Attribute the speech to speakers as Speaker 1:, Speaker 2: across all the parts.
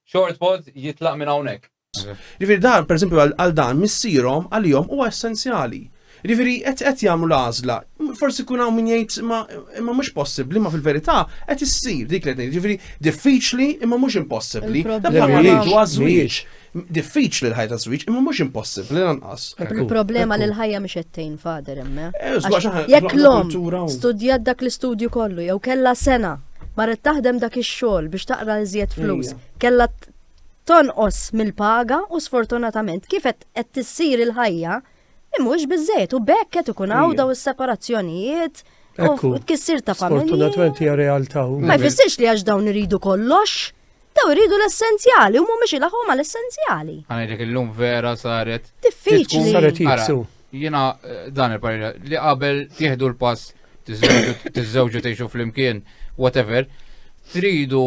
Speaker 1: Short pod jitlaq minn hawnhekk. Ġifieri dan pereżempju għal dan missierhom għalihom huwa essenzjali. Ġifieri qed qed jagħmlu l-għażla. Forsi jkun hawn min jgħid ma imma mhux possibbli, ma fil-verità qed issir dik li qed ngħid. Ġifieri diffiċli imma mhux impossibbli. Dan bħalma ngħidu għaż-żwieġ. Diffiċli l-ħajja ta' żwieġ, imma mhux impossibbli lanqas. Il-problema li l-ħajja mhix qed tgħin fader imma. Eh, jekk l-om studjat dak l-istudju kollu jew kellha sena marret taħdem dak ix-xogħol biex taqra iżjed flus, kellha tonqos mill-paga u sfortunatament kif qed tissir il-ħajja mhux biżejjed u bekk qed ikun hawn daw is-separazzjonijiet. U tkissir ta' familja. Fortunatament hija realtà. Ma jfissirx li għax dawn iridu kollox Daw iridu l-essenzjali u mhumiex ilaħħom għal essenzjali. Għanajtek illum vera saret. Diffiċli. Saret jitsu. Jina eh, dan il-parira li qabel tieħdu l-pass tiżżewġu tgħixu flimkien, whatever, tridu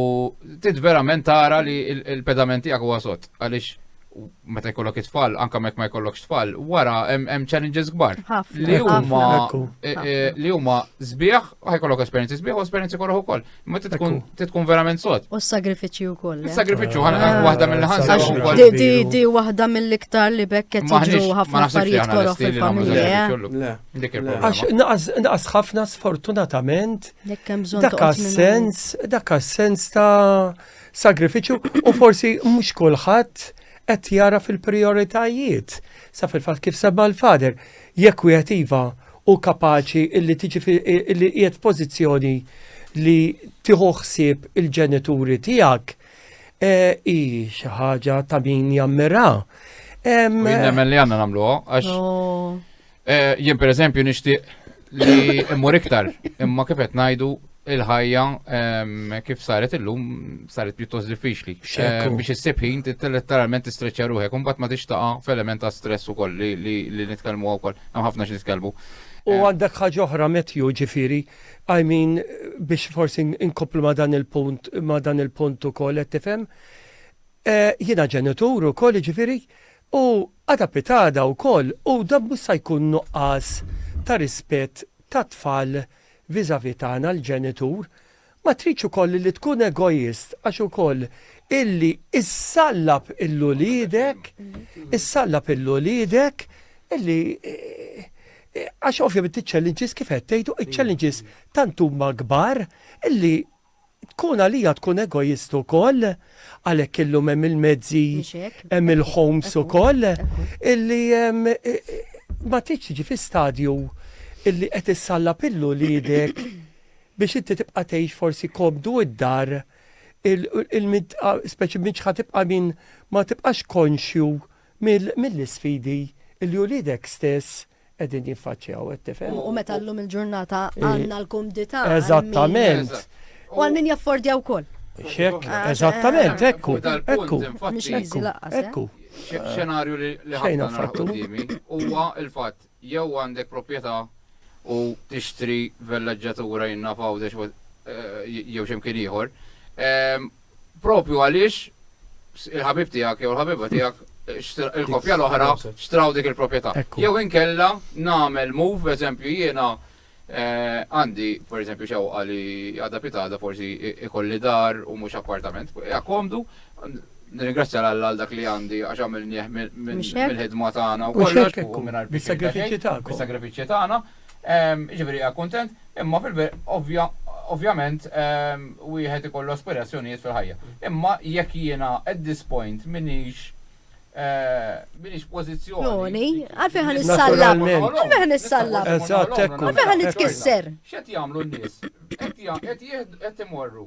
Speaker 1: tid verament tara li l-pedamenti għak wasot. Għaliex meta jkollok it-tfal, anka mek ma jkollokx tfal, wara hemm challenges kbar. Li huma e, e, li huma sbieħ, ħajkollok esperjenzi sbieħ u esperjenzi korroħ ukoll. Ma tkun tkun verament sod. U s-sagrifiċċju wkoll. Eh? Is-sagrifiċċju ħana ah. waħda mill-ħansa wkoll. Di di waħda mill-iktar li bekket jiġu ħafna affarijiet korroħ fil-familja. Għax naqas ħafna sfortunatament dak sens dak sens ta' sagrifiċċju u forsi mhux kulħadd qed jara fil-prioritajiet. Sa fil-fatt kif semma l-fader, jekk wieħed iva u kapaċi illi tiġi illi qiegħed pożizzjoni li tieħu ħsieb il-ġenituri tiegħek e, hi xi ħaġa ta' min jammira. Nemmen li għandna nagħmluha għax Eh, jien per eżempju nixtieq li immur iktar, imma kif qed ngħidu il-ħajja ehm, kif saret illum saret pjuttost diffiċli. Eh, biex issib ħin letteralment tistreċċa ruħek, imbagħad ma tixtaqa f'element ta' stress ukoll li nitkellmu wkoll, hemm ħafna xi nitkellmu. U eh. għandek ħaġa oħra metju ġifiri, I mean biex forsi inkopplu ma dan il-punt ma dan il-punt ukoll qed tifhem. Jiena ġenitur ukoll ġifiri, U għada pitada wkoll u dan mhux sa jkun nuqqas ta' rispett tat-tfal vis-à-vis tagħna l-ġenitur. Ma tridx ukoll illi tkun egoist għax ukoll illi issallab il uliedek, issallab il uliedek illi għax ovvjament iċ-challenges kif qed tgħid iċ-challenges tant huma kbar illi Tkun għalija tkun egoist ukoll, għalhekk illum hemm il-mezzi, hemm il-homes ukoll, illi ma tridx tiġi fi stadju illi qed issallab lil uliedek biex inti tibqa' tgħix forsi komdu d-dar, speċi minn x'ħa tibqa' minn ma tibqax konxju mill-isfidi illi uliedek stess qegħdin jiffaċċjaw, qed tifhem? U meta llum il-ġurnata għandna l-kumdità. Eżattament. U għal min jaffordja wkoll. Xek, ah, eh, eżattament, eh, ekku, ekku, ekku, eh. ekku. Xenarju li ħajna fattu huwa il-fatt jew għandek proprjetà u tixtri vellaġġatura jinna fawdex jew xemkien ieħor. Ehm, Propju għaliex il-ħabib tiegħek jew il-ħabiba tiegħek il-koppja l-oħra xtraw dik il-proprjetà. Jew inkella nagħmel move, eżempju jiena eh, għandi, per eżempju, xewqa li għadha pitada forsi ikolli dar u mhux appartament. Ja komdu, Nirringrazzja l-Alla għal dak li għandi għax għamil nieħ mill-ħidma tagħna u kollox u minn għal-sagrifiċċji tagħna. Jiġifieri qiegħed kuntent, imma fil-verità ovvjament wieħed ikollu aspirazzjonijiet fil-ħajja. Imma jekk jiena at this point m'iniex m'iniex pożizzjoni. Għalfejn ħa nissallab? Għalfejn ħa nissallab? Għalfejn ħa nitkisser? X'qed jagħmlu n-nies? Qed imorru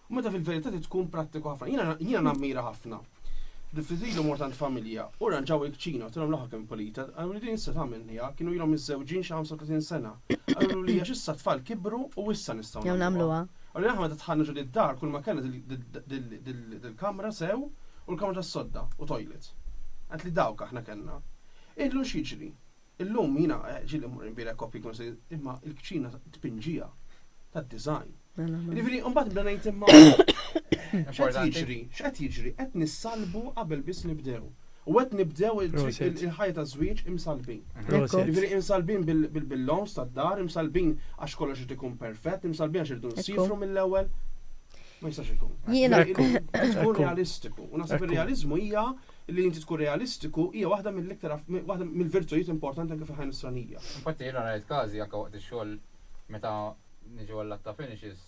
Speaker 1: Meta fil-verità trid tkun prattiku ħafna. Jiena jiena nammira ħafna. Diffiżilu mort għand familja u rranġaw il-kċina, għedtilhom l-aħħar kemm pulita, qaluli din issa tagħmel niha, kienu ilhom miżżewġin xi 35 sena. Qalulu li għax issa t-tfal kibru u issa nistgħu nagħmluha. nagħmluha. Qaluli aħna meta dħalna ġo did-dar kull ma kellna dil-kamra sew u l-kamra tas-sodda u toilet. Għedtli dawk aħna kellna. Illum x'jiġri? Illum jiena ġieli mmur inbierek kopji kun se imma l-kċina tpinġija tad-design. Mela, mela. Jiġifieri mbagħad bda ngħid imma x'qed jiġri, x'qed jiġri, qed nissalbu qabel biss nibdew. U qed nibdew il-ħajja ta' żwieġ imsalbin. Jiġifieri imsalbin bil-loans tad-dar, imsalbin għax kollox irid ikun perfett, imsalbin għax irdu nsifru mill-ewwel. Ma jistax ikun. Jiena. Tkun realistiku. U naħseb ir-realiżmu hija Li inti tkun realistiku hija waħda mill-iktar waħda mill-virtujiet importanti anke fil-ħajja Nisranija. Infatti jiena rajt każi anke waqt ix-xogħol meta niġu għall-latta finishes,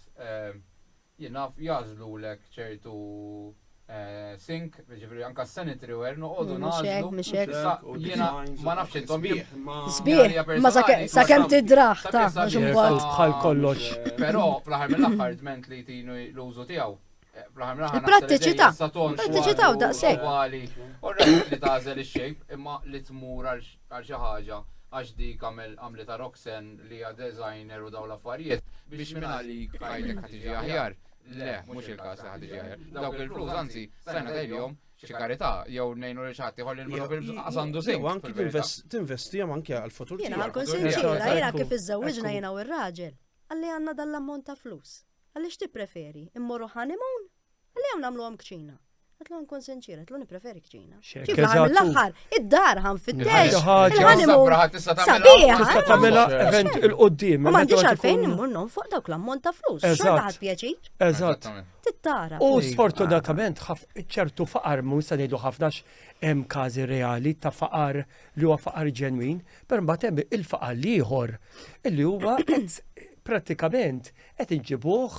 Speaker 1: jien naf jagħżlulek ċertu sink, jiġifieri anke s-sanitary ware noqogħdu nagħżlu. Mhux hekk, mhux hekk. Jiena ma nafx intom jekk. Sbieħ, imma sakemm tidrah taf għax imbagħad. Bħal kollox. Però fl-aħħar mill-aħħar dment li jtini l-użu tiegħu. Il-prattiċità, prattiċità u daqshekk. U rajt li tażel ix-shape imma li tmur għal xi ħaġa għax dik għamel għamlitha Roxen li hija designer u dawn l-affarijiet biex minn għalik ħajtek ħa tiġi aħjar. Le, mhux il-każ li ħa tiġi aħjar. Dawk il-flus anzi stajna tgħidilhom xi karità jew ngħinu lil xi ħadd iħolli l-minu bil-bżqas għandu sejn. Jew anki tinvestihom anke għall-futur. Jiena ħankun sinċira, jiena kif iżżewwiġna jiena u r-raġel. Għalli għandna dan l-ammont ta' flus. Qalli x'tippreferi, immorru honeymoon? Qalli jew nagħmluhom kċina. Għatlu nkun sinċir, għatlu nipreferi kċina. Kif għamil l-axħar, id-dar għan fit-tex. Sabiħa, tamela event il-qoddim. Ma għandix għalfejn immur non fuq dawk l-ammont ta' flus. Eżatt, pjaċir. Eżatt. Tittara. U sfortunatament, ċertu faqar, mu nista' ngħidu ħafnax hemm każi reali ta' faqar li huwa faqar ġenwin, per mbagħad hemm il-faqar liħor, illi huwa pratikament Qed inġibuh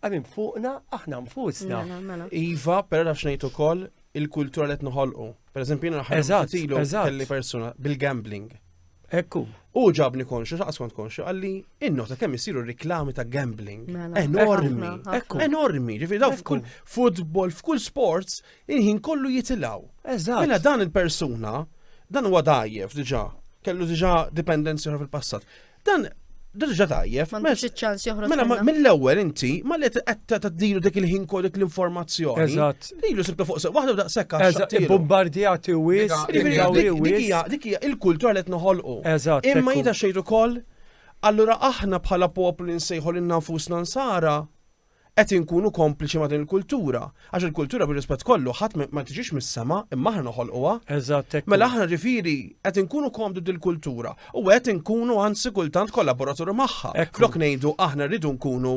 Speaker 1: għamim fuqna aħna nfusna. Mela, mela. Iva, per nafx ngħid ukoll il-kultura li qed noħolqu. Per eżempju, jiena ħarġtilu kelli persuna bil-gambling. Ekku. U ġabni konxu, xaqas kont konxu, għalli innota kemm isiru reklami ta' gambling. Mela. Enormi. Ekku. Enormi. Ġifi daw f'kull football, f'kull sports, inħin kollu jitilaw. Eżatt. Mela dan il-persuna, dan huwa dajjef diġà kellu diġa dipendenzi fil-passat. Dan Dirġa tajjeb. Ma nix ċans joħroġ. Mela mill-ewwel inti ma li qed taddilu dik il-ħin kod dik l-informazzjoni. Eżatt. Lilu sibta fuq sew waħda daqshekk għax. Eżatt, bombardjati wis, dik hija il-kultura li qed noħolqu. Eżatt. Imma jida xejn ukoll Allura aħna bħala poplu li nsejħu lil nfusna nsara, Qed inkunu kompliċi ma' din il-kultura, għax il-kultura bir-rispett kollu ħadd ma tiġix mis-sema, imma aħna noħolquha. Eżatt hekk. Mela aħna ġifieri qed inkunu komdu dil-kultura u qed inkunu anzi kultant kollaboraturi magħha, flok ngħidu aħna rridu nkunu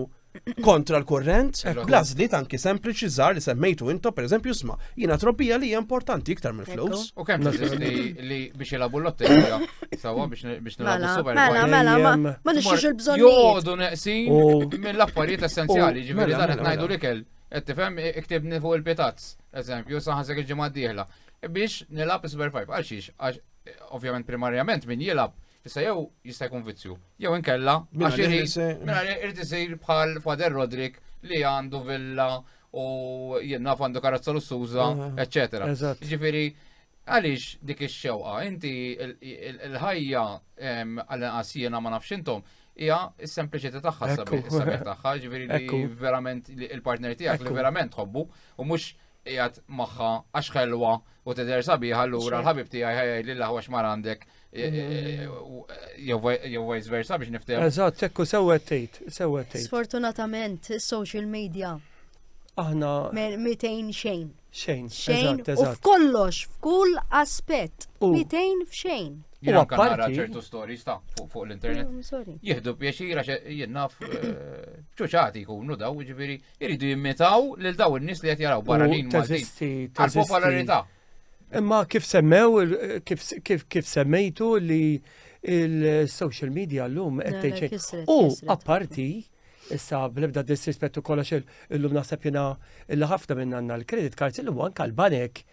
Speaker 1: kontra l-kurrent, bl-għażliet anki sempliċi żgħar li semmejtu intom pereżempju sma' jiena trobbija li hija importanti iktar mill-flus. U kemm li biex ilabu l-lotterija, sawa biex Mela, mela, mela, ma ma nixxux il-bżonn. Jodu neqsin mill-affarijiet essenzjali, ġifieri mela, dan qed mela, ngħidu mela. l-ikel. Qed tifhem iktibni fuq il-pitazz, eżempju, saħansek il-ġimgħa d-dieħla. Biex nilgħab is-Super 5. Għal xiex, għax eh, ovvjament primarjament min jilgħab Issa jew jista' jkun vizzju, jew inkella għax irid mela irid isir bħal Fader Rodrik li għandu villa u jenna għandu karozza lussuża, eċċetera. Ġifieri Għaliex dik ix-xewqa? Inti l-ħajja għall-inqas jiena ma nafx intom, hija s-sempliċità tagħha s-sabiħ tagħha, ġifieri li verament il-partner tiegħek li verament tħobbu u mhux qiegħed magħha għax ħelwa u tidher sabiħ allura l-ħabib tiegħi ħajja li l-aħwa x'mar għandek e, e, e, jew vice versa biex niftehem. Eżatt, tekku sewwet tgħid, sewwet tgħid. Sfortunatament is-social media aħna. Mitejn xejn. Xejn, xejn, u f'kollox, f'kull aspett, mitejn f'xejn. U apparti ċertu stories ta' fuq l-internet. Mm, Jihdu pjaċira jinnaf eh, ċuċati jkunu daw, ġifiri, jiridu jimmitaw lil daw in-nies li qed jaraw barranin Maltin. Għal-popolarità. Imma kif semmew, kif semmejtu li il-social media l-lum għetteċe. U apparti, Issa, bl-ebda disrispettu kollox illum naħseb jina illi ħafna minn għanna l-credit cards illum anka l-banek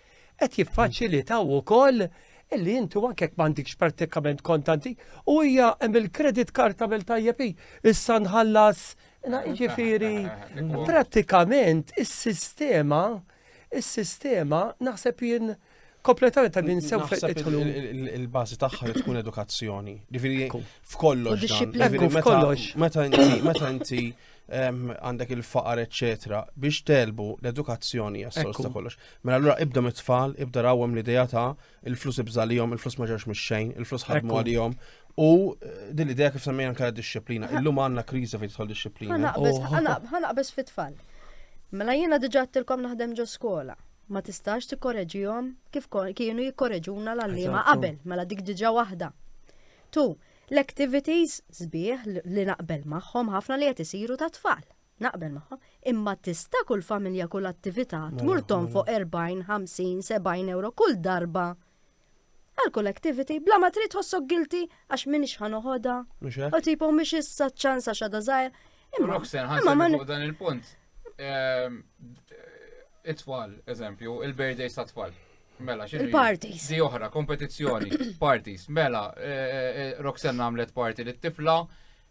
Speaker 1: qed jiffaċilitaw ukoll illi intu anke m'għandikx pratikament kontanti u hija hemm il-credit card tagħmel tajjeb issa nħallas jiġifieri prattikament is-sistema is-sistema naħseb jien Kompletament ta' din sew fetħlu. Il-bażi tagħha li tkun edukazzjoni. Ġifieri f'kollox. Ġifieri f'kollox. Meta inti meta inti ehm, għandek il-faqar eċetera biex telbu l-edukazzjoni għas-sors ta' kollox. Mela allura ibda mit-tfal, ibda rawhom l-idea ta' il-flus ibżalihom, il-flus ma ġewx mix-xejn, il-flus ħadmu għalihom, U eh, din l-idea kif semmejna anke disċiplina, illum għandna kriża fejn tidħol disċiplina. Ħanaqbeż fit-tfal. Mela jiena diġà tilkom naħdem ġo skola. ma tistax tikkoreġihom kif kienu jikkoreġuna l-għallima qabel, mela dik diġa waħda. Tu, l-activities sbieħ li naqbel magħhom ħafna li qed isiru ta' tfal. Naqbel magħhom, imma tista' kull familja kull attività mela, tmur tonfoq 40, 50, 70 euro kull darba Għal kull activity, bla ma trid ħossok guilty għax minix ħa noħodha. U tipo mhix issa ċans għax għadha żgħir. Imma Roxen, ħansa fuq dan il-punt. Ehm, it-tfal, eżempju, il-birthdays ta' tfal. Mela, xie? Il-parties. Di oħra, kompetizzjoni, parties. Mela, eh, eh, eh, Roxen għamlet party li t-tifla,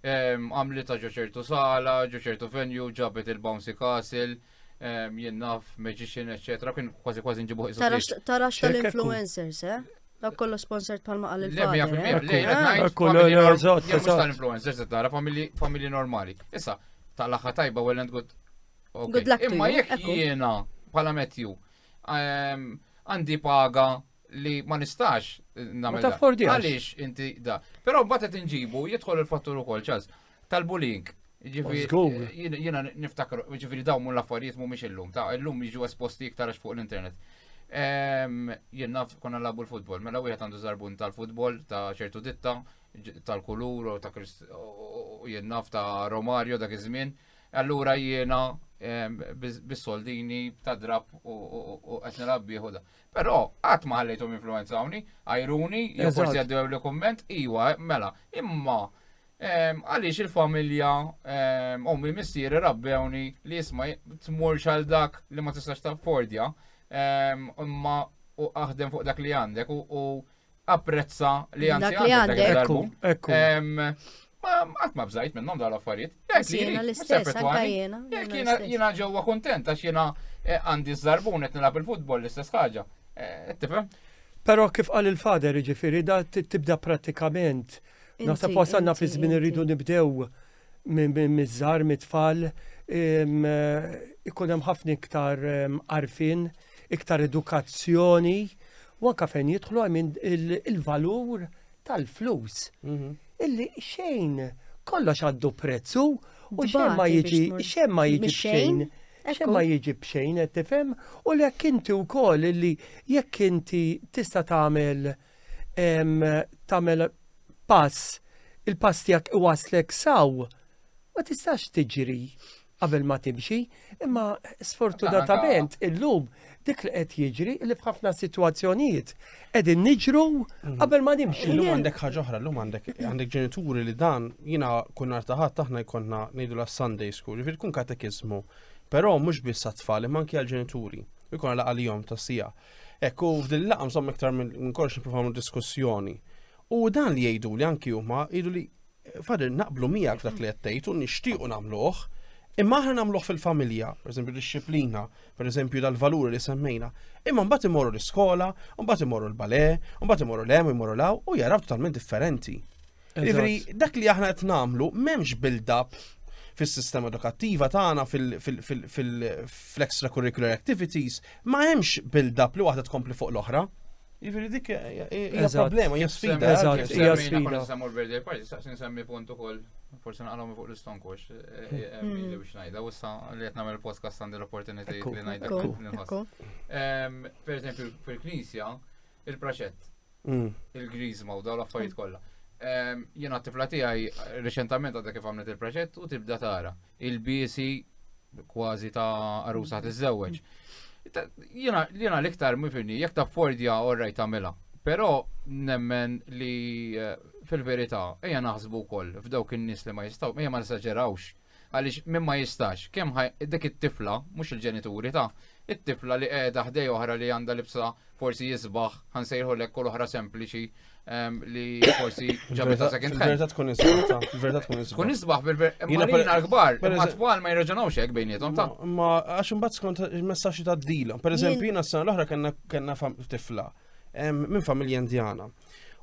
Speaker 1: ehm, għamlet ta' ġoċertu sala, ġoċertu venue, ġabet il-bouncy castle, jien naf, magician, eccetera, kien kważi kważi nġibu ħisu. Tarax tal-influencers, eh? Dak kollu sponsored palma għal il-fader. Kollu l-ġot. Jemux tal-influencers, tara familji normali. Issa, tal-axħa tajba, well and good. Good luck Imma jek jiena, pala metju, ehm, għandi paga li ma nistax namel. Għalix inti da. Pero batet inġibu, jitħol il-fattur u kol ċaz. tal-bullying. Jiena niftakar, ġifiri daw mu l-affarijiet mu miex illum, ta' illum jiġu esposti iktar fuq l-internet. Ehm, jien naf konna labu l-futbol, mela wieħed għandu zarbun tal-futbol ta' ċertu ditta, tal-kulur u ta' jien naf ta' Romario dak iż-żmien. Allura jiena ehm, bis-soldini ta' drab u qed nilgħab bieħu da. Però qatt ma ħallejthom influenzawni, għajruni, jew forsi għaddew li kumment, iwa, mela, imma Għaliex il-familja ommi missieri rabbewni li jisma tmur xal dak li ma tistax taffordja imma u aħdem fuq dak li għandek u apprezza li għandek. Dak li għandek. Ma għat ma bżajt minnom dal affarijiet. Jena l-istess, anka jena. Jena ġewwa kontent għax jena eh, għandi z-zarbun qed nilgħab il-futbol l-istess ħaġa. Eh, tifhem? Però kif qal il-fader ġifiri da tibda pratikament Naħseb wasalna fi żmien irridu nibdew miż-żar, mit-tfal, ikun hemm ħafna iktar arfin, iktar edukazzjoni, u anka fejn jidħlu għamin il-valur tal-flus. Mhm. Illi xejn kollox għaddu prezzu u xejn ma jiġi xejn ma jiġi xejn. Xejn ma jiġi b'xejn qed tifhem u l-jekk inti wkoll illi jekk inti tista' tagħmel tagħmel pass, il-pass tiegħek iwaslek saw, ma tistax tiġri qabel ma timxi, imma sfortunatament illum dik li qed jiġri li f'ħafna sitwazzjonijiet qegħdin niġru mm. qabel ma nimxu. Illum għandek ħaġa oħra, illum għandek għandek ġenituri li dan jiena kun nhar taħat aħna jkollna ngħidu la Sunday school, jiġifieri tkun katekiżmu, però mhux biss għat-tfal imma anke għall-ġenituri. Ikun għal għalihom tas-sija. Hekk u f'din il-laqgħa insomma iktar minn kollox nippruvaw nagħmlu diskussjoni. U dan li jgħidu li anki huma jgħidu li fader naqblu miegħek dak li qed tgħid u nixtiequ nagħmluh, imma aħna nagħmluh fil-familja, pereżempju disċiplina, pereżempju dal-valuri li semmejna, imma mbagħad imorru l-iskola, mbagħad imorru l-bale, mbagħad imorru l-hemm, imorru law u jaraw totalment differenti. Ivri, dak li aħna qed nagħmlu m'hemmx build-up fis-sistema edukattiva tagħna fil-extracurricular activities ma hemmx build-up li waħda tkompli fuq l-oħra. Ivri dik hija problema, hija sfida. Eżatt, hija sfida. Semmur birthday party, staqsin semmi punt ukoll forse naqalhom fuq l-istonkux, eh, eh, eh, hmm. milli biex ngħidha, u issa li qed nagħmel podcast għandi l-opportunitajiet li ngħidha nħoss. Per eżempju, fil-Knisja, Il-proċett. Mm. Il-grizma u daw l-affarijiet mm. kollha. Ehm, Jena t-tifla tiegħi reċentament għadha kif għamlet il-proġett u tibda tara. Il-biesi kważi ta' arusa tiżżewweġ. Jena l-iktar mifini, jekk ta' fordja orraj tagħmilha. Però nemmen li eh, fil-verità ejja naħsbu wkoll f'dawk in-nies li ma jistgħu, ejja ma nisaġerawx Għaliex min ma jistax, kemm ħa dik it-tifla, mhux il-ġenituri ta', it-tifla li qiegħda ħdej oħra li għandha libsa forsi jisbaħ, ħa nsejħu lek u l-oħra sempliċi ehm, li forsi ġabita second hand. Verta tkun isbaħ, verta tkun isbaħ. Tkun isbaħ bil-verta l-kbar, ma twal ma jirraġunawx hekk bejnietom ta'. Ma għax imbagħad skont il-messaġġi ta' dila. Per eżempju, jiena s-sena l-oħra kellna tifla ehm, minn familja Indjana.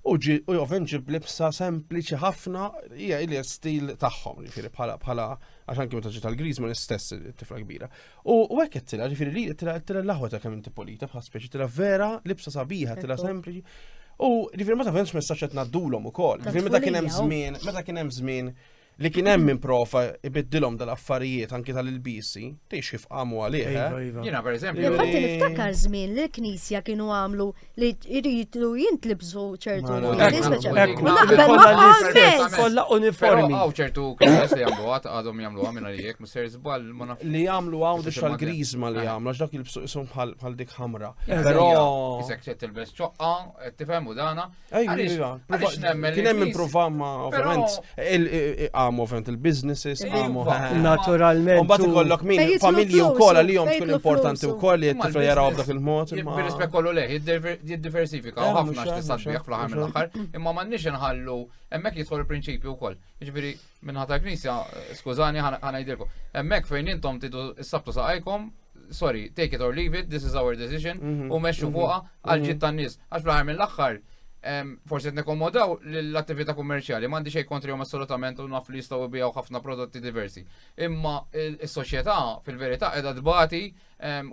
Speaker 1: U ovvjament ġib libsa sempliċi ħafna, hija li stil tagħhom, ġifieri bħala bħala għax anke meta ġiet tal-Griż ma l-istess tifla kbira. U hekk qed tilha, ġifieri li tilha tilha l-aħwa ta' kemm inti polita bħal speċi tilha vera, libsa sabiħa, tilha sempliċi. U ġifieri ma tafhemx messaġġ qed ngħaddulhom ukoll. Ġifieri meta kien hemm żmien, meta kien hemm żmien li kien hemm minn profa ibiddilhom dal-affarijiet anki tal-ilbisi, tgħix kif qamu għalih. Iva, eh? iva. Jiena pereżempju. Infatti niftakar żmien li l-Knisja kienu għamlu li jridu jintlibsu ċertu kollha uniformi. Hawn ċertu knisjes li jagħmlu għad għadhom jagħmlu għamil għalijek, mister żball ma nafx. Li jagħmlu hawn biex tal-griżma li jagħmlu għax dak il-bsuqisum bħal dik ħamra. Però isek tilbes ċoqqa, tifhem u dana, Kien hemm improva ma ovvjament għam ovvjament il-businesses għamu naturalment. Mbagħad ikollok min familji wkoll għalihom tkun importanti wkoll li t-tifel jaraw b'dak il-mod. Bil-rispett kollu leh, jiddiversifika eh, ħafna x'tista' tbih fl-aħħar mill-aħħar, imma m'għandniex inħallu hemmhekk jidħol il-prinċipju wkoll. Jiġifieri Minħat tal-Knisja, skużani, ħanajdilkom. Hemmhekk fejn intom tidu s-sabtu saqajkom, sorry, take it or leave it, this is our decision, mhm, u meċu mhm, fuqa għal mhm. ġid tan-nies. Għax fl-aħħar mill-aħħar, forsi qed nikkomodaw l-attività kummerċjali, m'għandi xejn kontrihom assolutament u naf li jistgħu bijaw ħafna prodotti diversi. Imma s-soċjetà fil-verità qiegħda tbati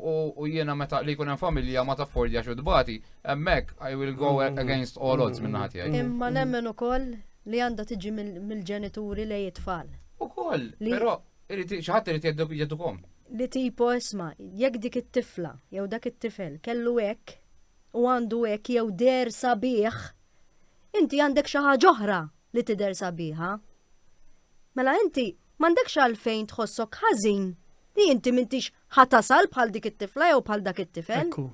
Speaker 1: U jiena meta li jkun hemm familja ma taffordja xu dbati, hemmhekk I will go mm-hmm. against all odds minn ħati għaj. Imma nemmen ukoll li għandha tiġi mill-ġenituri li jitfall. Ukoll, però xaħat irid jedukom. Li tipo isma, jekk dik it-tifla jew dak it-tifel kellu hekk u għandu hekk jew der sabiħ, inti għandek xi ħaġa oħra li tidher sabiħa. Mela inti M'għandekx għalfejn tħossok ħażin li inti m'intix ħa tasal bħal dik it-tifla jew bħal dak it-tifel. Ekku.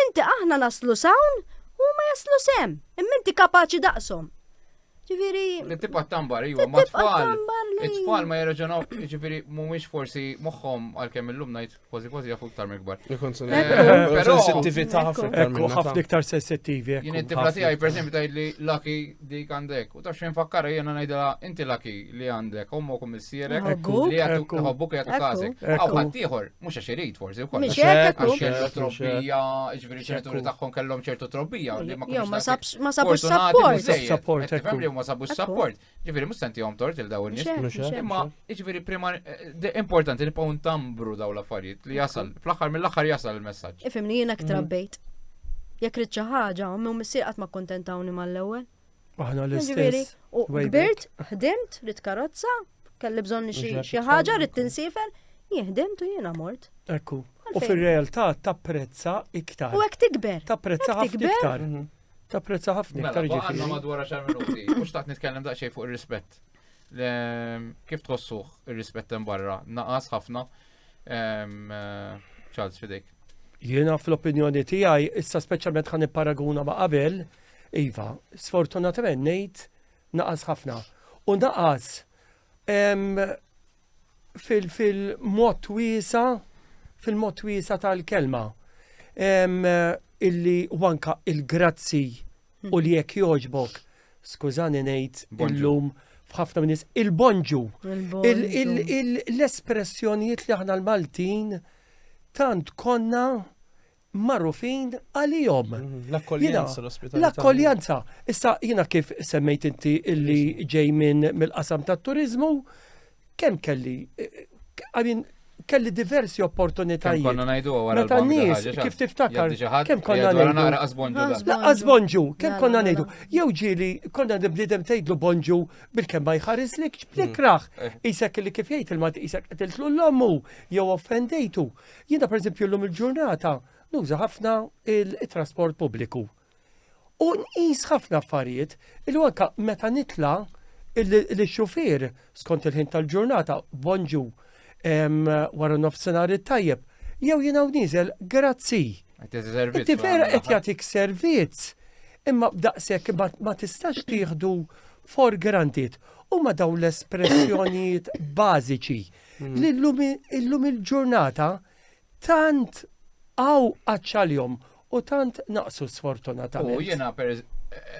Speaker 1: Inti aħna naslu sawn u ma jaslu sem, imma inti kapaċi daqshom. Ġifieri. Li tibqa' tambar, iva, ma tfal. It-tfal ma jirraġunaw, ġifieri mhumiex forsi moħħhom għalkemm illum ngħid Kważi kważi jafu iktar mill-kbar. Però sensittività ħafna iktar. Ekku ħafna iktar sensittivi. Jien it-tifla tiegħi pereżempju tgħid li laki dik għandek. U taf xejn fakkara jiena ngħidha inti laki li għandek ommok u missierek li jagħtuk ħobbuk jagħtuk każek. Aw ħadd ieħor mhux għax irid forsi wkoll. Għax kellu trobbija, ġifieri ċerturi tagħhom kellhom ċertu trobbija. Ma sabux sapport. Sapport. Ma sabux sapport. Ġifieri mhux se ntihom tort il dawn nies. Mhux hekk. Imma ġifieri prima eh, importanti li nibqgħu ntambru daw l-affarijiet li jasal fl-aħħar mill-aħħar jasal il-messaġġ. Ifimni jiena ktra mm. bejt. Jekk rid xi ħaġa, ommi u missier qatt ma kkuntentawni mal-ewwel. Aħna l-istess. U kbirt, ħdimt, rid karozza, kelli bżonn xi ħaġa rid tinsifel, jihdimt u jiena mort. Ekku. U fir-realtà tapprezza iktar. U hekk tikber. Tapprezza ħafna iktar. Mhm. Ta' prezza ħafna mela, iktar ġifieri. Għandna madwar 10 minuti, mhux taqt nitkellem daqsxejn fuq ir-rispett. Kif tħossuh ir-rispett hemm barra? Naqas ħafna. Charles fidejk. Jiena fl-opinjoni tiegħi issa speċjalment ħan paraguna ma' qabel, iva, sfortunatament ngħid naqas ħafna. U naqas fil-mod wiesa, fil-mod wiesa tal-kelma. Illi wanka il-grazzi u li jekk joġbok, skużani ngħid illum f'ħafna minn il-bonġu. L-espressjonijiet li aħna l-Maltin tant konna magħrufin għalihom. Mhm, l-akkoljenza, l-ospitalità. L-akkoljenza. Issa jiena kif semmejt inti illi ġej minn mill-qasam tat-turizmu, kemm kelli għamin eh, eh, kelli diversi opportunitajiet. Konna najdu għara. Meta n-nis, kif tiftakar, kem konna najdu. Laqqas bonġu, kem konna najdu. Jew ġili, konna nibnidem tejdlu bonġu bil-kem ma jħaris li ġbli mm. kraħ. Eh. Isek li kif jgħid il-mat isek għetiltlu l-lommu, jew offendejtu. Jiena pereżempju llum il-ġurnata nuża ħafna il-trasport pubbliku. U nqis ħafna affarijiet il anka meta nitla l-xufier skont il-ħin tal-ġurnata bonġu wara nofsinhar it-tajjeb jew jiena niżel grazzi. Inti vera qed jagħtik servizz imma b'daqshekk ma tistax tieħdu for granted huma dawn l-espressjonijiet bażiċi Hmm. Illum il-ġurnata tant għaw għacċaljom u tant naqsu sfortunatament. U jena per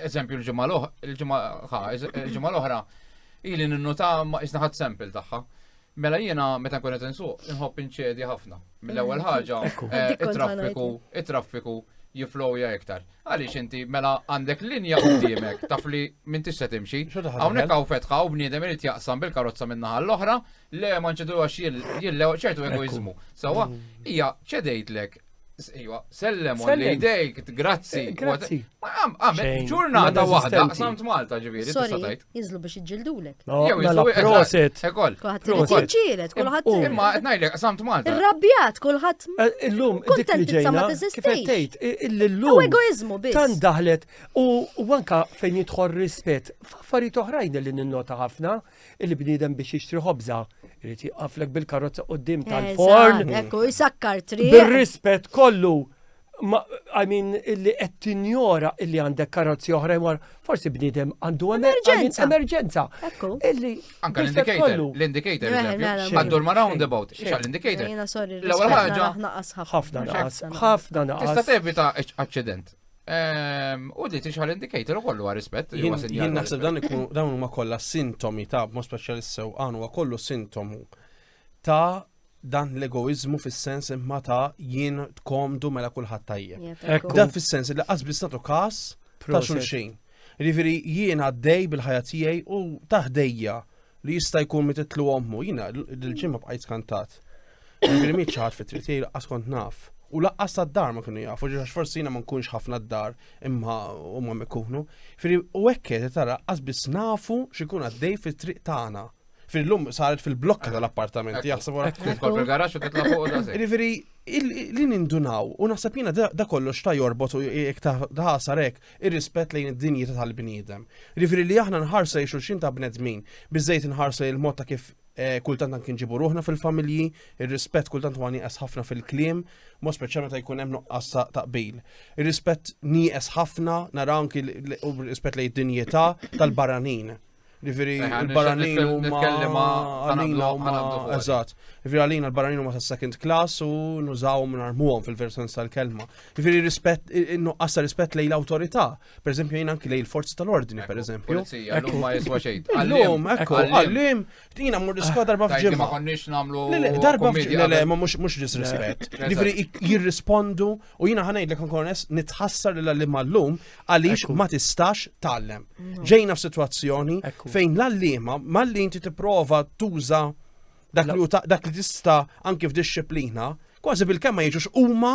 Speaker 1: eżempju l-ġimma l-oħra, ili ninnuta ma jisna ħad sample taħħa. Mela jiena meta nkun qed insuq inħobb inċedi ħafna. Mill-ewwel mm. ħaġa eh, it-traffiku, it-traffiku jiflowja iktar. Għaliex inti mela għandek linja qudiemek taf li minn tista' timxi. Hawnhekk hawn fetħa u bniedem irid jaqsam bil-karozza minn naħa l-oħra, le ma nċedu għax jillew ċertu egoizmu. Sawa, hija ċedejtlek Iwa, sellem u li jdejk, grazzi. Grazzi. Għamil, ġurnata wahda, samt Malta ġiviri, t-satajt. Jizlu biex iġġildulek. Jew mela, jizlu proset. Ekol. Kulħadd ġielet, kulħadd. Imma qed ngħidlek samt Malta. Irrabjat kulħadd. Eh, illum dik li ġejna. Kif tgħid illum. Egoizmu biss. Tan daħlet u anka fejn jidħol rispett. F'affarijiet oħrajn li ninnota ħafna li bniedem biex jixtri ħobża irid jaqaflek bil-karozza qudiem tal-forn. Ekku, jisakkar triq. Bir-rispett kollu Ma, I mean, illi qed tinjora illi għandek karozzi oħra jmar, forsi bniedem għandu emerġenza. Emerġenza. Illi. Anka l-indicator. L-indicator. Għaddur ma roundabout. Xa l-indicator. L-ewwel ħaġa. Ħafna naqas. Ħafna naqas. Tista' tevita aċċident. Ehm, u li tixħal indicator u kollu għar rispet. Jien naħseb dan ikun dawn huma kollha sintomi ta' mod speċjalist sew għan huwa kollu sintomu ta' dan l-egoizmu fis-sens imma ta' jien tkomdu mela kulħadd tajjeb. Dan fis-sens li qasbis nagħtu każ ta' xulxin. Riveri jien għaddej bil-ħajja tiegħi u taħdejja li jista' jkun mititlu ommu, jiena l-ġimma bqajt skantat. Riveri miet ċaħat fit tritij laqqas kont naf. U laqqas ta' dar ma kienu jafu, ġax forsi jiena ma nkunx ħafna d-dar imma u ma mikunu. Firri u ekket tara qasbis nafu xikun għaddej fit-triq tagħna. Fil-lum saret fil-blokka tal-appartamenti, jaħseb wara. Kol fil-garax u titla' fuq da. Riveri, li nindunaw, u naħseb jiena da kollox ta' jorbot u jek ta' ħasarek ir-rispett lejn id-dinjità tal-bniedem. Riveri li aħna nħarsa li xulxin ta' bnedmin, biżejt nħarsa il-mod ta' kif eh, kultant anki nġibu ruħna fil-familji, ir-rispett kultant huwa nieqes ħafna fil-kliem, mo speċjalment ta' jkun hemm nuqqas ta' taqbil. Ir-rispett nieqes ħafna, naraw anki u rispett lejn id-dinjità tal-barranin. Ġifiri, il-barranin u ma għalina u ma eżat. Ġifiri, għalina il-barranin u ma ta' second class u nużaw minn armuħom fil-versens tal-kelma. Ġifiri, rispet, nuqqas ta' rispet lej l-autorita. Per eżempju, jina anki lej il-forzi tal-ordni, per eżempju. Għallum ma jiswa xejn. Għallum, ekku, għallum, jina mur diskwa darba fġimma. Ma konniex namlu. Darba fġimma, ma mux disrispet. Ġifiri, jirrispondu U jina ħanajdlek nkornes nitħassar li l-għallim għallum għalix ma tistax tallem. Mm. Ġejna f'sitwazzjoni fejn l-għallima malli inti tipprova tuża dak li dak li tista anki f'disciplina, kważi bil-kemm ma jiġux huma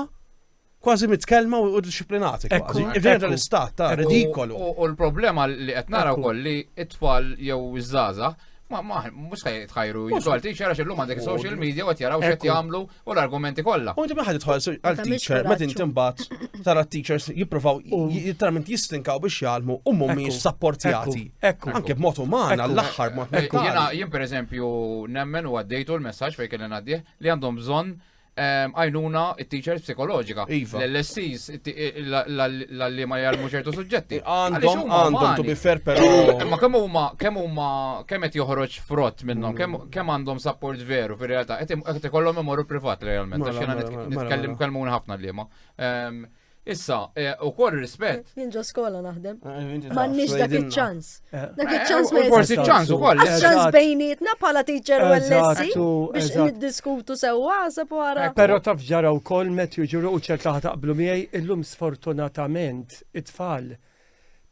Speaker 1: kważi mitkellma u disciplinati. Ġejna tal-istat ta' ridikolu. U l-problema li qed nara wkoll li it-tfal jew iż-żaza Ma, ma, mux tħajru, jizolti, xara xillum għandek social media u għet jaraw xet jamlu u l-argumenti kollha. U inti maħad tħol għal teacher, ma din timbat tara teachers jippruvaw jittarment jistinkaw biex jgħalmu u mhumiex sapportjati. Anke b'mod uman għall-aħħar mod Ekku, jiena jien pereżempju nemmen u għaddejtu l-messaġġ fejn kellna għaddih li għandhom bżonn ehm, għajnuna it-teachers psikoloġika. Iva. L-LSCs, l-għalli ma jgħalmu ċertu suġġetti. Għandhom, għandhom, tu bifer, pero. Ma kemm huma, kemm huma, kemm qed joħroġ frott minnhom, kemm għandhom support veru fir-realtà, qed ikollhom imorru privat realment, għax jiena nitkellem kelmun ħafna liema. Ehm, issa, e, u kol rispett. Jien ġo skola naħdem. Ah, M'għandniex dak iċ-ċans. Eh. Dak iċ-ċans ma Forsi ċans ukoll. Ċans bejnietna bħala teacher u l-lessi biex niddiskutu sewwa għasab wara. Eh, però taf ġara wkoll met jiġu u ċerta ħataqblu miegħi illum sfortunatament it-tfal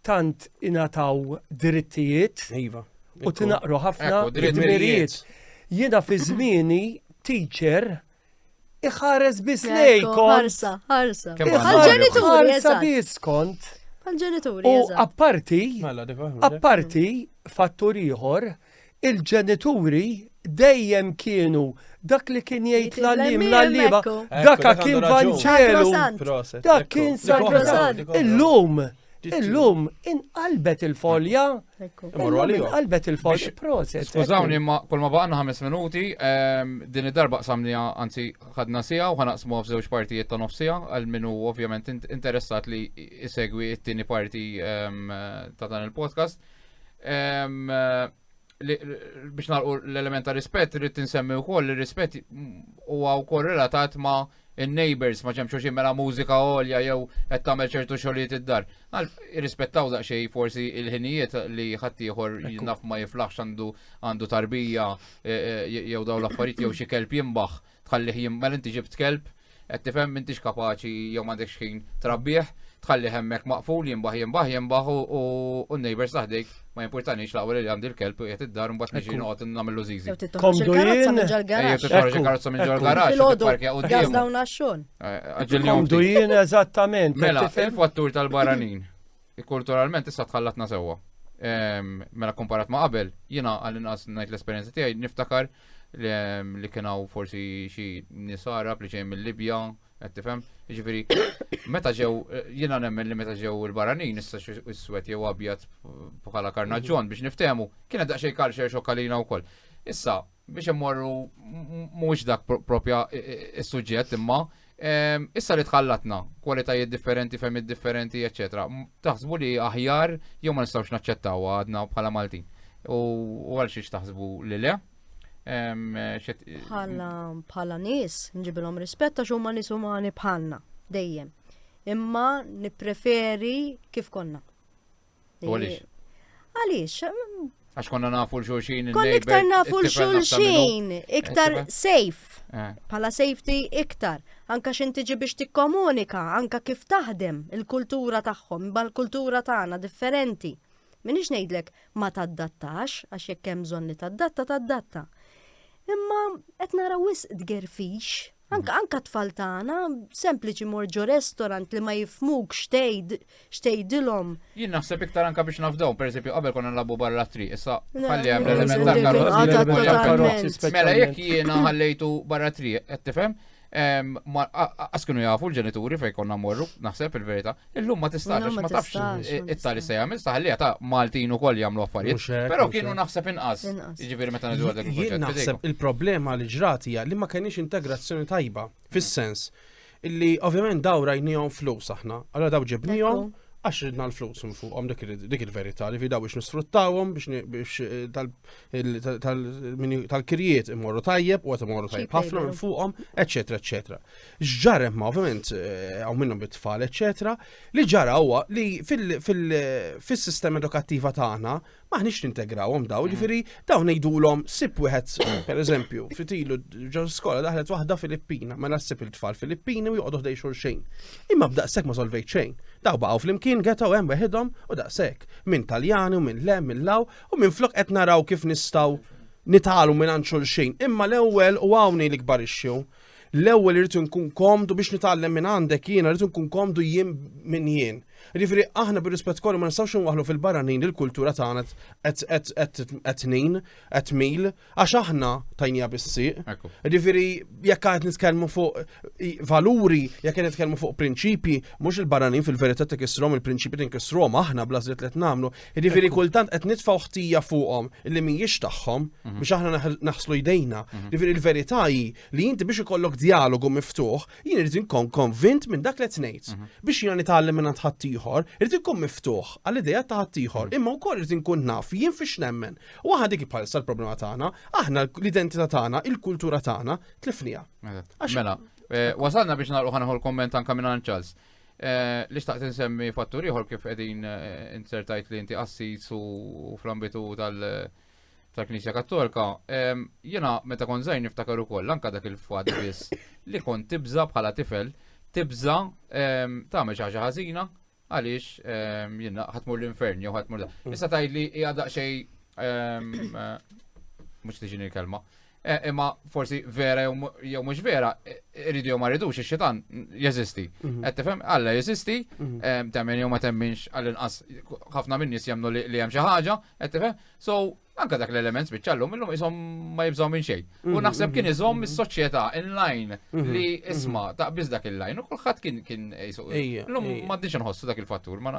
Speaker 1: tant ingħataw drittijiet Iva. u tinaqru ħafna Ekku, dritt dmirijiet. mirijiet. Jiena fi żmieni teacher iħares biss Ekku, lejkom. Ħarsa, ħarsa. Kemm Iħares għandna Għal-ġenituri, ħarsa eżatt. biss kont. Għal-ġenituri, U eżatt. apparti, Mela, dik waħda. apparti fattur ieħor il-ġenituri dejjem kienu dak li kien jgħid l-għallim l-għallima, dak kien vanġelu, dak kien sagrosant. Illum, illum, inqalbet il-folja. Inqalbet il-folja. Proset. Skużawni, imma kol ma baqna ħames minuti, ehm, din id-darba qsamni anzi ħadna sija u ħanaqsmu f'żewġ partijiet ta' nofsija, għal minu ovvjament interessat li isegwi it-tieni parti ehm, ta' dan il-podcast. biex nalqu l-element ta' rispett, rrid tinsemmi wkoll li rispett huwa wkoll relatat ma' in-neighbors ma ġemx xi mela mużika għolja jew qed tagħmel ċertu xogħlijiet id-dar. Għal irrispettaw daqsxejn forsi il-ħinijiet li ħaddieħor naf ma jiflaħx għandu għandu tarbija e, e, jew daw l-affarijiet jew xi kelb jimbaħ. tħallih jimmel inti ġibt kelb, qed tifhem m'intix kapaċi jew m'għandekx ħin trabbih, tħalli hemmhekk maqful jimbaħ jimbaħ jimbaħ u n-neighbors taħdejk ma jimpurtanix la li għandi l-kelb u jgħet id-dar mbagħad niġi noqgħod nagħmlu żiżi. Komdu jien titħarġ karozza minn ġol garaġġ tipparkja u gas dawn għax-xogħol. Komdu jien eżattament. Mela, il-fattur tal-baranin. Kulturalment issa tħallatna sewwa. Mela komparat ma' qabel, jiena għall-inqas ngħid l-esperjenza tiegħi niftakar li kien hawn forsi xi nies Arab li ġej mill-Libja, qed tifhem. Jiġifieri meta ġew jiena nemmen li meta ġew il-baranin issa iswed jew abjad bħala karnaġġon biex niftehmu, kienet daqsxejn kalxer xokkalina wkoll. Issa biex immorru mhuwiex dak propja is-suġġett imma Issa li tħallatna, kwalitajiet differenti, femmit differenti, eccetera, taħsbu li aħjar jew ma nistgħux naċċettaw għadna bħala Maltin. U għal xiex taħsbu li le? Bħala bħala nies, nġibilhom rispetta xo ma nies umani bħalna dejjem. Imma nippreferi kif konna. Għaliex? Għaliex? Għax konna nafu l-xulxin. Konna iktar nafu l-xulxin, iktar safe. Eh. Pala safety iktar. Anka xin tiġi biex tikkomunika, anka kif taħdem il-kultura tagħhom, bal kultura tagħna differenti. Minix ngħidlek ma taddattax, għax jekk hemm bżonn li taddatta, taddatta. Imma qed naraw wisq tgerfix Anka anka tfal tagħna sempliċi mor ġo restaurant li ma jifmuk xtejd xtejdilhom. Jien naħseb iktar anka biex nafdaw, per eżempju, qabel konna nlabu barra tri, issa ħalli hemm l-element ta' karozzi. Mela jekk jiena ħallejtu barra tri, qed tifhem? Għaskunu jafu l-ġenituri fej konna morru, naħseb il-verita, Illum ma tistax, għax ma tafx it-tali se jagħmel, sta ħallija ta' Maltin ukoll jagħmlu affarijiet. Però kienu naħseb inqas. Jiġifieri meta nidu għadek il-proġett. Naħseb il-problema li ġrat hija li ma kenix integrazzjoni tajba fis-sens illi ovvjament daw rajnijom flus aħna, allora daw ġibnijom għax ridna l-flus minn fuqhom dik il-verità li fidaw biex nisfruttawhom biex eh, tal-kirjiet imorru tajjeb u għat imorru tajjeb ħafna minn fuqhom, eċetera, eċetera. X'ġar ma ovvjament eh, hawn minnhom bit-tfal eċetera, li ġara huwa li fis-sistema edukattiva tagħna maħniex nintegrawhom daw, mm. ġifieri dawn ngħidulhom sib wieħed pereżempju fitilu ġo skola daħlet waħda Filippina, mela ssib il-tfal Filippini u joqgħodu ħdej xulxejn. Imma b'daqshekk ma solvejt xejn. Daw baqgħu flimkien getaw hemm weħidhom u daqshekk. Minn Taljani u minn lem, minn law u minn flok qed naraw kif nistgħu nitalu minn xulxin. Imma l-ewwel u hawn li kbarixxu L-ewwel irid inkun komdu biex nitgħallem minn għandek jiena irid inkun komdu jien minn jien. Jiġifieri aħna bir-rispett kollu ma nistgħux inwaħlu fil-barranin li l-kultura tagħna qed tnin, qed mil, għax aħna tajnija bis-sieq. Jiġifieri jekk qed nitkellmu fuq valuri, jekk qed nitkellmu fuq prinċipji, mhux il-barranin fil-verità tikisrom il-prinċipji tinkisrom aħna bla żied li qed nagħmlu, Jiġifieri kultant qed nitfgħu ħtija fuqhom li mhijiex tagħhom mhm. biex aħna naħslu jdejna. Mhm. Jiġifieri il-verità hi li inti biex ikollok dialogu miftuħ, jien irid inkun konvint minn dak li qed ngħid. Mhm. Biex jiena nitgħallem minn ħadd ieħor, irid inkun miftuħ għal idea ta' ħadd ieħor, imma wkoll irid inkun naf jien fiex nemmen. U aħna dik bħal l-problema tagħna, aħna l-identità tagħna, il-kultura tagħna tlifnija. Mela, eh, wasalna biex nagħlqu ħanħol komment anke minn Charles. Eh, li xtaqt insemmi fattur ieħor kif qegħdin eh, insertajt li inti qassis u fl-ambitu tal- tal-Knisja Kattolika, jiena meta kon żgħir niftakar ukoll anke dak il-fatt biss li kon tibża bħala tifel, tibża tagħmel xi ħaġa ħażina għaliex jiena ħatmur l-infern jew ħatmur. Mm. Issa tgħid li hija daqsxejn eh, mhux tiġini l-kelma. Eh, imma forsi vera jew mhux vera, eh, irridu jew ma rridux ix-xitan jeżisti. Mhm. Qed tifhem Alla jeżisti, mhm. eh, temmen jew ma temminx għall-inqas ħafna minn nies jemnu li hemm xi ħaġa, qed tifhem. So anka dak l-element spiċċa llum illum isom ma jibżgħu minn xejn. U mhm, naħseb kien iżomm is-soċjetà in-line li isma ta' biss dak il-line u kulħadd kien kien jisuq. Illum ma diġ nħossu dak il-fattur ma.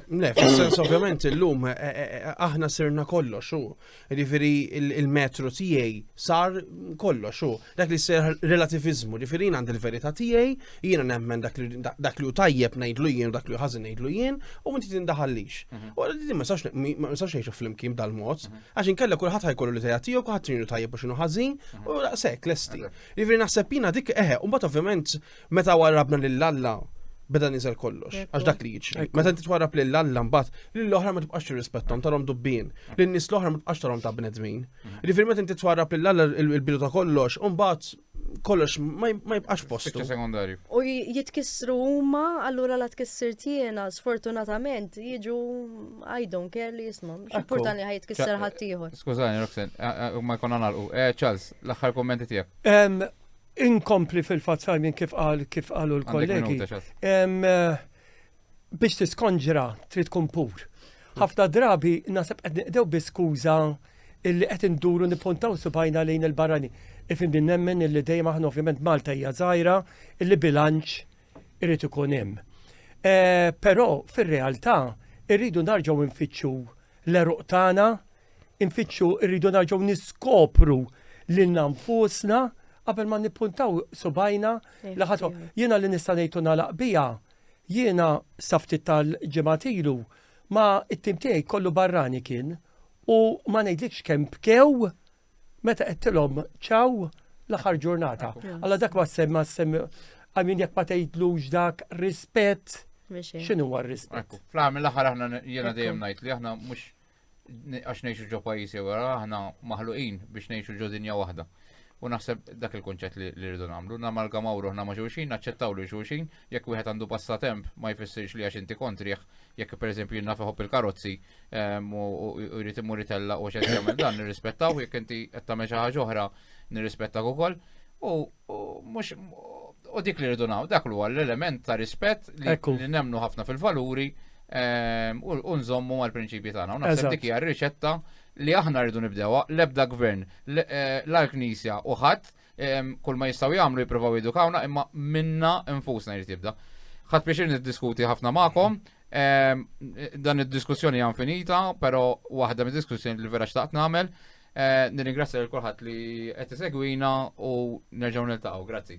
Speaker 1: Le, fis-sens ovvjament illum aħna sirna kollox Ġifieri il-metru tiegħi sar kollox u dak li ser relativizmu, ġifieri jien għandi l-verità tiegħi, jiena nemmen dak li hu tajjeb ngħidlu jien u dak li hu ħażin ngħidlu jien u inti tindaħallix. Mhm. U din ma nistax ngħixu flimkien dal-mod, mhm. għax inkella kulħadd ħajkollu li tajja tiegħu, kulħadd x'inhu tajjeb u x'inhu ħażin mhm. u daqshekk lesti. Ġifieri naħseb jiena dik eħe, u mbagħad ovvjament Meta warrabna lil Alla, beda niżel kollox, għax dak li jiġri. Meta inti twarrab lil Alla mbagħad, lil oħra ma tibqax tirrispettom tarhom dubbin, lin nies l-oħra ma tibqax tarhom ta' bnedmin. Mhm. Jiġifieri meta inti twarrab lil Alla il-bidu ta' kollox, u mbagħad kollox ma jibqax postu. sekundarju. U jitkissru huma, allura la tkissir tiena, sfortunatament, jiġu I don't care li jisma. X'importan li ħajtkisser ħaddieħor. Skużani, Roxen, ma jkun nagħlqu. Eh, Charles, l-aħħar kommenti tiegħek. Inkompli fil-fatt Simon kif qal kif qalu l-kollegi. Biex tiskonġra trid tkun pur. Ħafna drabi nasab qed niqdew bi skuża illi qed induru nipuntaw subajna lejn il-barrani. Ifimni nemmen illi dejjem aħna ovvjament Malta hija żgħira illi bilanċ irid ikun hemm. Eh, però fir-realtà irridu narġgħu nfittxu l-eruq tagħna infittxu rridu narġgħu niskopru lilna nfusna qabel ma nippuntaw subajna li ħadd jiena li nista' ngħidu nagħlaq biha jiena saftit tal-ġimgħat ilu ma it-tim tiegħi kollu barrani kien u ma ngħidlikx kemm bkew meta qed tilhom ċaw l-aħħar ġurnata. Alla dak ma semma semma għamin jekk ma tgħidlux dak rispett. X'inhu huwa rispett? Fl-għamil l-aħħar aħna jiena dejjem ngħid li aħna mhux għax nejxu ġo pajjiżi wara aħna maħluqin biex nejxu ġo dinja waħda. U naħseb dak il-kunċett li rridu nagħmlu, namalgamaw ruħna ma' xulxin, naċċettaw li xulxin, jekk wieħed għandu passatemp ma jfissirx li għax inti kontriħ, jekk pereżempju jinnaf iħobb il-karozzi ehm, u jrid imur itella u xed jagħmel dan nirrispettaw, jekk inti qed tagħmel xi ħaġa oħra nirrispettaw ukoll. U U dik li rridu naw, dak huwa l-element ta' rispett li nemnu ħafna fil-valuri ehm, u nżommu mal-prinċipji tagħna. U naħseb dik hija r-riċetta li aħna rridu nibdewha l-ebda gvern, eh, l-Knisja u ħadd ehm, kull ma jistgħu jagħmlu jippruvaw jidukawna imma minna nfusna jrid jibda. Ħadd biex niddiskuti ħafna magħkom, ehm, dan id-diskussjoni hija infinita, però waħda mid-diskussjoni li vera xtaqt nagħmel Eh, nirringrazzja lil kulħadd li qed isegwina u nerġgħu niltaqgħu. Grazzi.